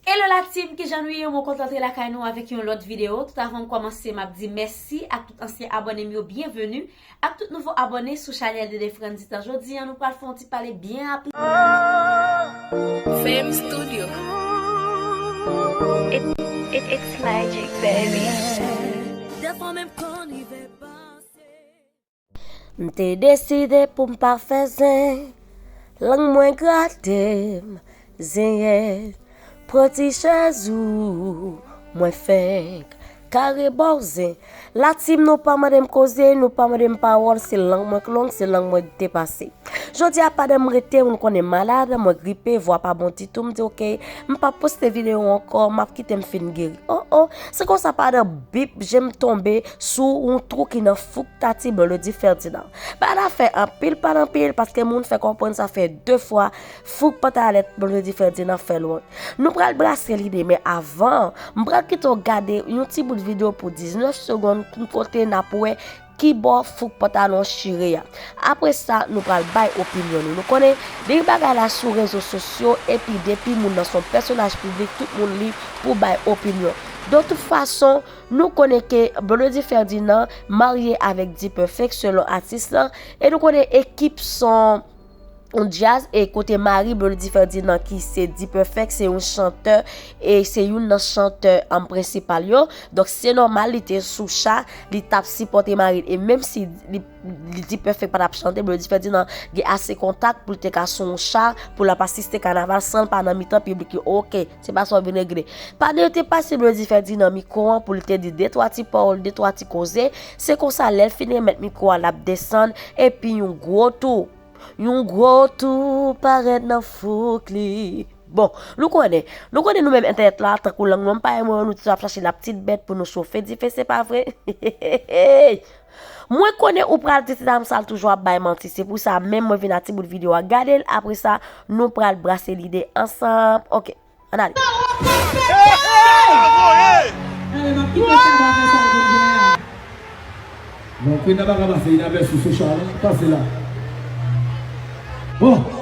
Hello la team kijan nou ye mwen kontan antre lakay nou avèk yon lòt video tout avan m kòmanse map di mèsi ak tout ansyen abòne m yo byenveni ak tout nouvo abòne sou chanèl Dede Frandita jodi an nou pral fè yon ti pale byen rapid. M te deside pou m pa fè zen Lang mwen grate m zenyèz Pran ti chèz ou Mwen fenk kare ba w zen La team nou pa mande m koze Nou pa mande m pawòl Se lang mwen k long Se lang mwen k depase Jodi a pandan m rete Ou konnen m malad Mwen gripe Vwa pa bon ditou M di ok M pap poste videyo ankò M ap kite m fin geri Oh oh Se konsa pandan bip je m tonbe Sou yon twou ki nan fouk Tati Melodie Ferdinand. Bagay la fè anpil pale anpil paske moun fè konprann sa fè 2 fwa fouk pantalèt Melodie Ferdinand fè l wont. Nou pral brase lide men avan, m pral kite w gade yon ti bout videyo pou 19 segonn kote n ap wè kibò fouk pantalon chire a. Apre sa nou pral bay opinyon nou. Nou konnen depi bagay la sou rezo sosyo epi depi moun nan s on pèsonaj piblik tout moun lib pou bay opinyon. Don tout fason. Nou konnen ke Blondedy Ferdinand marye avèk D-Perfect selon atis lan, e nou konnen ekip son yon djaz e kote mari Blondedy Ferdinand ki se D-Perfect se yon chantè e se youn nan chantè an prensipal yo, donk se nòmal li te sou cha, li tap sipòte mari l e menm si D-Perfect patap chante Blondedy Ferdinand gen ase kontak pou l te ka sou yon cha pou l ap asiste kanaval san l pa nan mitan piblik yo ok. Se pa sa w vin regle. Pandan yo te pase Blondie fè di nan mikwo an pou li te di de twa ti pawòl, de twa ti koze, se konsa lè l fin remèt mikwo a l ap desann epi yon gwo tou, yon gwo tou parèt nan fouk li. Bon, nou konnen, nou konnen nou menm entènèt la tankou lang nou an m pa remwen an nou toujou ap chache lapitit bèt pou nou chofe dife se pa vre? Hehehehey! Mwen konnen ou pral di ti dam sal toujou ap bay manti se pou sa menm mwen vin a ti bout video a gadel apre sa nou pral brase lide ansanm ok ann ale. Woo!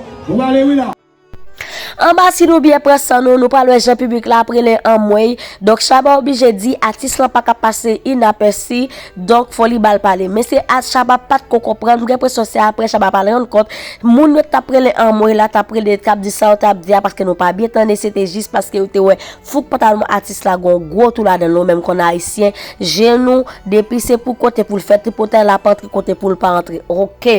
Anba si nou byen pran san nou, nou pral wè jan piblik la ap rele anmweyy, donk Shabba oblije di atis lan pa ka pase inapèsi, donk fò li ba l pale. Men se a Shabba pa t ko konprann, m gen enpresyon se aprè Shabba pa l rann kont, moun yo t ap rele anmweyy la t ap rele, t ap di sa yo t ap di a paske nou pa byen tande se te jis paske yo te wè Fouk pantalon atis la gon gwo tou ladanl nou menm konn ayisyen je nou depi se pou kote poul fè tripotay lap antre kote poul pa antre ok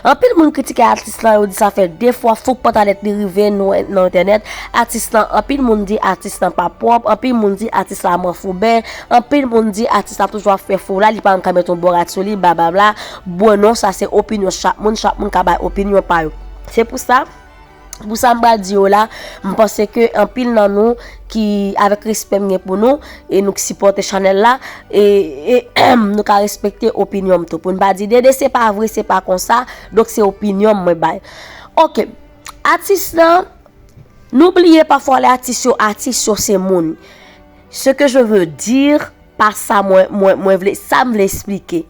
anpil moun kritike atis lan yo di sa fè 2 fwa fouk pantalèt li rive nou nan entènèt atis lan anpil moun di atis lan pa pwòp anpil moun di atis la manfouben anpil moun di atis la toujou ap fè fo la li pa janm ka met yon bon rad sou li bababla bwè non sa se opinyon chak moun chak moun ka bay opinyon pa yo se pou sa. Pou sa m pral di yo la, m panse ke anpil nan nou ki avèk respè m gen pou nou e nou ki sipòte chanèl la e nou ka respekte opinyon m tou. Pou n pa di Dede se pa vre, se pa konsa, donk se opinyon m mwen bay. Ok, atis la, nou bliye pafwa lè atis yo atis yo se moun. Se ke je veux dire. Pa sa mwen mwen mwen vle sa m vle esplike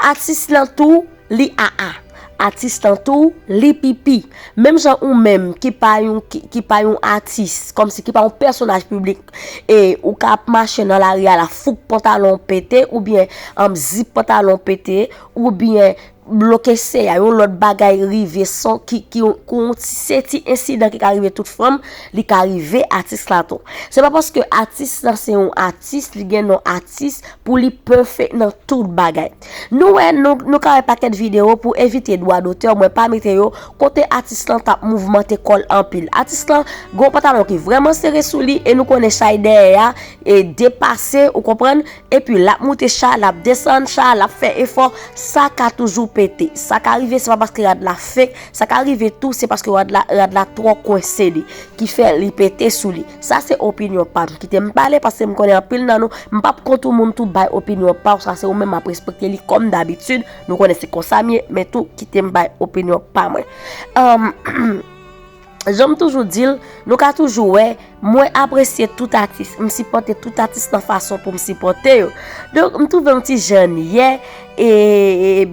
atis lan tou li aa atis lan tou li pipi menm jan ou menm ki pa yon ki pa yon atis kòmsi ki pa yon pèsonaj piblik e ou ka ap mache nan lari a la fouk pantalon w pete oubyen anbn zip pantalon w pete oubyen Bloke se a yon lòt bagay rive son ki se ti ensidan ki ka rive tout fanm li ka rive atis la tou se pa paske atis la se yon atis li gen non atis pou li pèfè nan tout bagay nou wè nou ka wè pakèt video pou evite dwa dotè mwen pa mete yo kote atis lan tap mouvmante kòl anpil atis lan gwo patalon ki vreman sere sou li e nou konnen chay dèyè a e depase ou konprann epi lap moute cha lap desann cha lap fè efò sa ka toujou pete sa ka rive se pa paske rad la fek sa ka rive tou se paske rad la rad la twò kwense li ki fè li pete sou li sa se opinyon pam kite m pale paske m konnen anpil nan nou m pap kont ou moun tou bay opinyon paw sa se ou menm map respekte li kòm dabitid nou konnen se konsa m ye men tou kite m bay opinyon pa mwen humm. Janm toujou dil nou ka toujou wè mwen apresye tout atis m sipòte tout atis nan fason poum sipòte yo donk m touvem ti jann yè e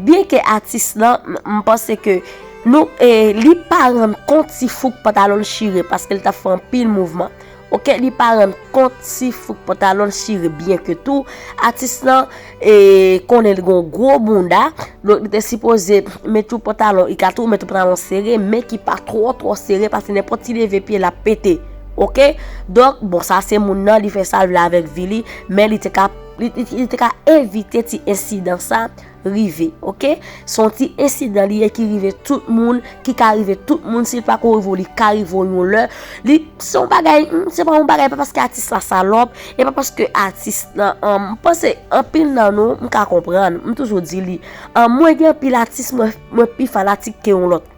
byen ke atis lan m panse ke nou e li pa rann kont ti fouk pantalonl chire paskel tap fè anpil mouvman. Ok li pa rann kont si fouk pantalonl chire byen ke tou atis lan konnen li gon gwo bounda donk li te sipoze met yon pantalon li ka tou met yon pantalon sere men ki pa twò twò sere paske nenpòt ti leve pye lap pete ok donk bon sa se moun nan li fè sal vle avèk vi li men li te ka evite ti ensidan sa. rive ok son ti ensidan li ye ki rive tout moun ki ka rive tout moun si pa ko rive li ka rive yon lè li son bagay se pa yon bagay pa paske atis la salop e pa paske atis nan an panse an pil nan nou m ka konprann m toujou di li an mwen gen pil atis mwen pi fanatik ke yon lòt.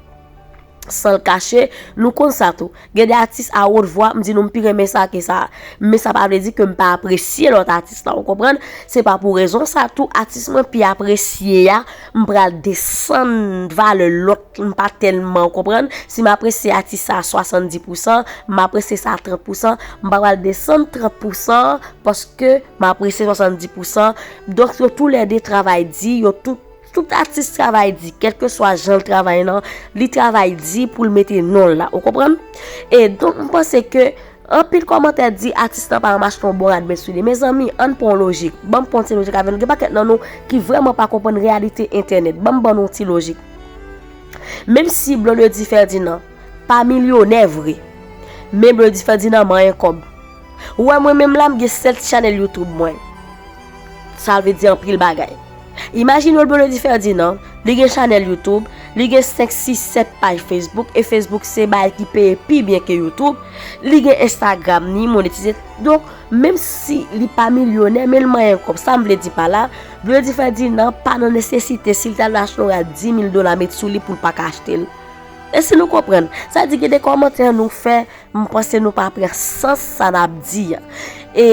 San l kache, nou konn sa tou. Gen de atis a wot vwa, m di nou m pi renmen sa ke sa. Men sa pa vle di ke m pa apresye lòt atis la, ou konprann? Se pa pou rezon sa tou, atis mwen pi apresye a, m pral desann valè lòt m pa tèlman, ou konprann? Si m apresye atis sa a 70 pousan, m apresye sa a 30 pousan, m pa pral desann 30 pousan an paske m apresye 70 pousan. Donk yo tou lè de travay di, yo tout. Tout atis travay di, kèlkeswa jan l travay nan, li travay di pou l mete non l la. Ou konprann? E donk m panse ke anpil kòmantè di atis nan pa janm achte yon bon rad men soulye. Mezanmi, ann pran yon lojik. Ban m pran yon ti lojik avè nou. Gen pakèt nan nou ki vrèman pa konprann reyalite entènèt. Ban m ban nou yon ti lojik. Menm si Blondedy Ferdinand pa milyonè vre, men Blondedy Ferdinand manyen kòb. Ou wè mwen menm la m gen 7 chanèl youtube mwen. Sa vle di anpil bagay. Imajine w Blondedy Ferdinand, li gen chanèl youtube, li gen 5, 6, 7 paj facebook e facebook se bagay ki peye pi byen ke youtube, li gen instagram ni monetize donk menm si li pa milyonè men l manyen kòb sa m vle di pa la Blondedy Ferdinand pa nan nesesite si l ta dwe achte yon rad 10 mil dola met sou li pou l pa ka achte l. Esi nou konprann? Sa vle di gen de kòmantè nou fè. M panse nou pa pran sans sa n ap di an. E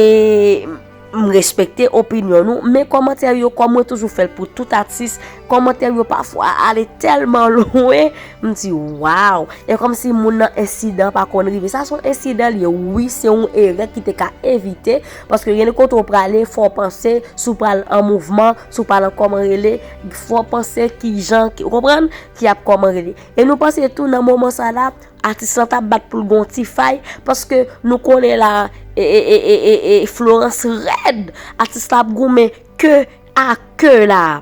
m respekte opinyon nou, men kòmantè yo kòm mwen toujou fè l pou tout atis, kòmantè yo pafwa ale tèlman lwen, m di waw! E kòm si moun nan ensidan pa konn rive. Sa se yon ensidan li ye wi, se yon erè ki te ka evite, paske gen de kote ou prale fò w panse si w pral an mouvman, si w pral an kòman rele, fò w panse ki jan, ou konprann, ki ap kòman rele. E nou panse tou nan moman sa la. Atis lan tap bat poul gon ti fay paske nou konnen la e florans rèd atis la ap goumen ke a ke la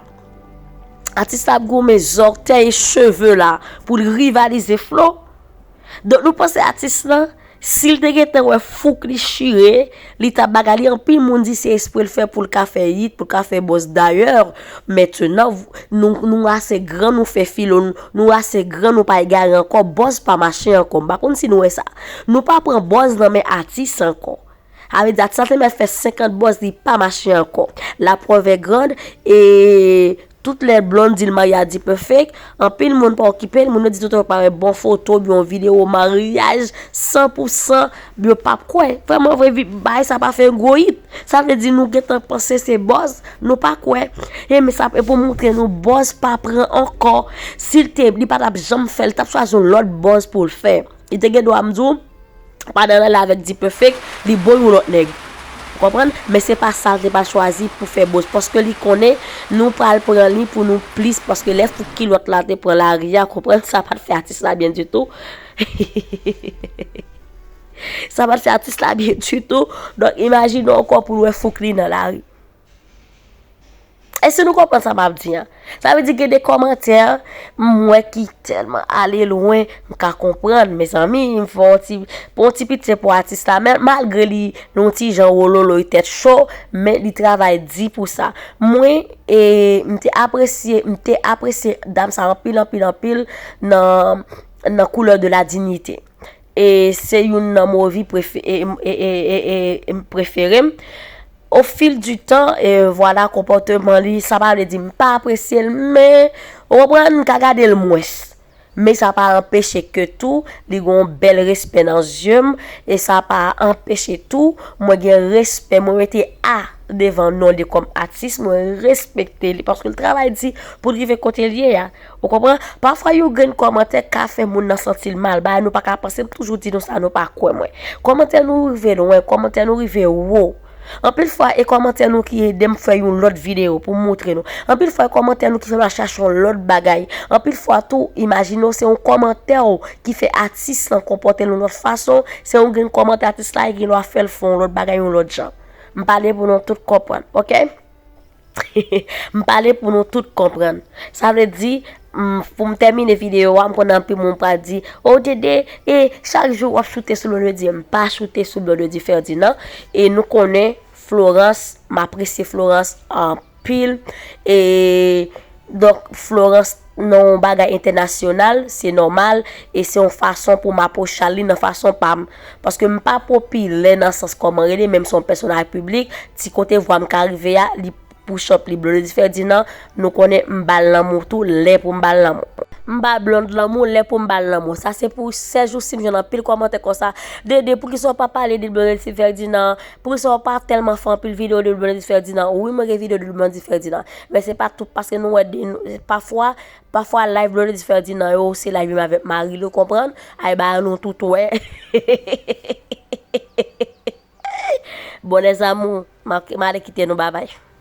atis la ap goumen zòrtèy e cheve la poul rivalize flo donk nou panse atis lan sil te gentan wè fouk li chire Li ta baga li anpil moun di se esprel fè poul ka fè yit poul ka fè bòz dayè mètenan nou ase gran nou fè filo nou ase gran nou pa egare ankò bòz pa mache ankò m pa konn si nou wè sa nou pa pran bòz nan men atis ankò sa vle di atis la te mèt fè 50 bòz li pa mache ankò la preuve est grande e Tout lè Blonde di l Mariady perfect, anpil moun pa okipe l, moun yo di tout yo pa wè bon foto oubyen yon videwo maryaj 100 pou 100 yo pa p kwè. Vrèman vre baay sa pa fè yon gwo it, sa vle di nou gen tan panse se bòz, nou pa kwè. Enben sa e pou montre nou bòz pa pran ankò, si l te li pa t ap janm fè l, li t ap chwazi yon lòt bòz pou l fè. Li te gen dwa mdi w pandan l ale avèk D-Perfect li bo yon lòt nèg. Ou konprann? Men se pa sa l te pral chwazi pou fè boz. Paske li konnen nou pral pran li pou nou plis paske lè fouk kilòt la te pran lari a konprann sa pat fè atis la byen ditou. Sa pat fè atis la byen ditou. Donk imajine ankò pou l wè fouk li nan lari. Èske nou konprann sa map di an? Sa vle di gen de kòmantè m wè ki tèlman ale lwen, m ka konprann mezanmi m fè yon ti pou yon ti pitye pou atis la men malgre li yon ti jan wololoy tèt cho men li travay di pou sa. Mwen e m te apresye m te apresye dam sa anpil anpil anpil nan nan couleur de la dignité. E se youn nan movi prefere m. O fil di tan, vwala konpòteman li, sa pa vle di m pa apresye l men, ou konprann, m ka gade l mwens. Men sa pa anpeche ke tou li gen yon bèl respè nan zye m e sa pa anpeche tou mwen gen respè, mwen mete A devan non li kòm atis, mwen respekte li paske l travay di pou l rive kote l ye a. Ou konpran? Pafwa yon grenn kòmantè ka fè moun nan santi l mal, bagay nou pa ka panse, m toujou di nou sa nou pa kwè mwen. Kòmantè nou rive lwen, kòmantè nou rive wo. Anpil fwa e kòmantè nou ki ede m fè yon lòt videyo pou m moutre nou. Anpil fwa e kòmantè nou ki fè m al chache yon lòt bagay. Anpil fwa tou, imajine w se yon kòmantè w ki fè atis lan konpòte l yon lòt fason, se yon grenn kòmantè atis la gen lwa fè l fè yon lòt bagay yon lòt jan. M pale pou nou tout konprann, ok? M pale pou nou tout konprann. Sa vle di, m, pou m tèmine videyo a, m konnen anpil moun pral di, O DD, e, chak jou w ap choute sou Blondedy. M pa choute sou Blondedy Ferdinand. E nou konnen Florence, m apresye Florence anpil. E, donk, Florence. nan yon bagay entènasyonal, se nòmal, e se yon fason pou m apwochal li nan fason pa m. Paske m pa popilè nan sans kòman rele, men m se yon pèsonaj piblik, ti kote vwa m ka rive a, li Pouchop li Blondedy Ferdinand, nou konnen m ba l lanmou tou, lè pou m ba l lanmou. M ba Blonde lanmou, lè pou m ba l lanmou. Sa se pou sèl jou si m jwenn anpil kòmantè konsa, Dede, poukisa w pa pale de Blondedy Ferdinand? Poukisa w pa tèlman fè anpil videyo de Blondedy Ferdinand? Wi mwen gen videyo de Blondedy Ferdinand. Men se pa tout paske nou wè de nou pafwa pafwa live Blondedy Ferdinand yo se live menm avèk mari l ou konprann ay ba an nou tout wè Bonne zanmou m ale kite nou babay.